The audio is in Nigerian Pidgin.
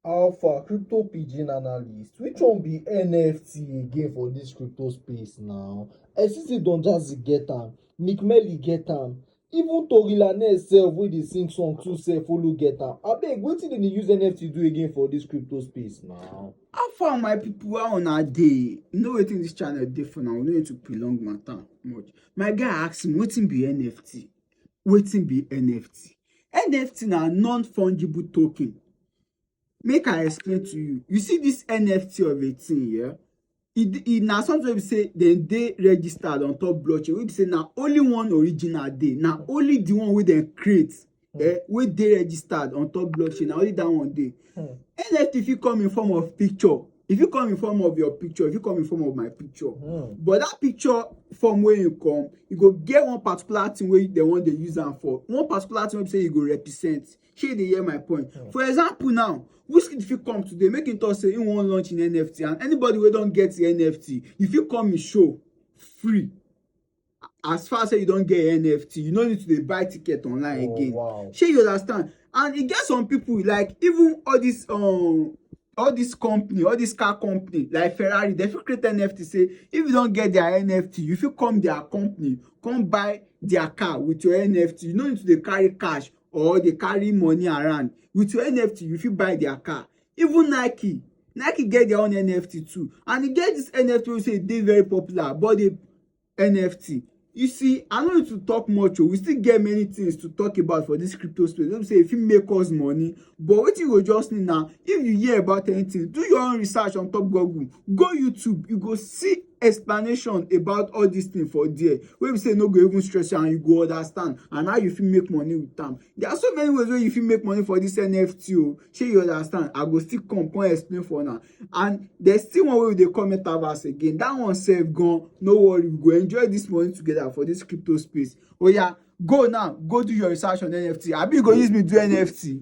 Alpha crypto pigeon analyst which one be NFT again for this crypto space now? Esisi don just get am, Nick Melly get am, even Tory Lanez sef wey dey sing song too sef follow get am. Abeg wetin dem dey use NFT do again for this crypto space now? How far my people how una dey? You know wetin this channel dey for now, we no need to prolong matter much. My guy ask me wetin be NFT? Wetin be NFT? NFT na non fungible token. Make I explain to you. You see this NFT of a thing yeah? It, it na something wey be say dem dey registered on top blockchain wey be say na only one original dey na only the one wey dem create eh, wey dey registered on top blockchain na only that one dey Hmm. NFT fit come in form of picture. If you come in form of your picture, if you come in form of my picture, mm. but that picture form where you come, you go get one particular thing where they want to use them for. One particular thing where say you go represent. Shey they hear my point. Mm. For example, now Wizkid fit come today, make him talk say he wan launch in NFT, and anybody wey don get the NFT, if you come in show free. as far say you don get nft you no need to dey buy ticket online oh, again wow. shey you understand and e get some people like even all this um, all this company all this car company like ferrari dem fit create nft say if you don get their nft you fit come their company come buy their car with your nft you no need to dey carry cash or dey carry money around with your nft you fit buy their car even nike nike get their own nft too and e get this nft wey say e dey very popular but they NFT. You see, I no need to talk much o. Oh. We still get many things to talk about for this crypto space. Let me say if you make us money, but wetin you go just need now, if you hear about anything, do your own research on top Google. Go YouTube, you go see explanation about all these things for there wey be say no go even stress you and you go understand and how you fit make money with am there are so many ways wey you fit make money for this nft o oh. shey you understand i go still come come explain for una and there's still one way we dey call metaverse again that one sef gan no worry we go enjoy this money together for this crypto space Oh yeah, go now go do your research on nft abi you go use me do nft.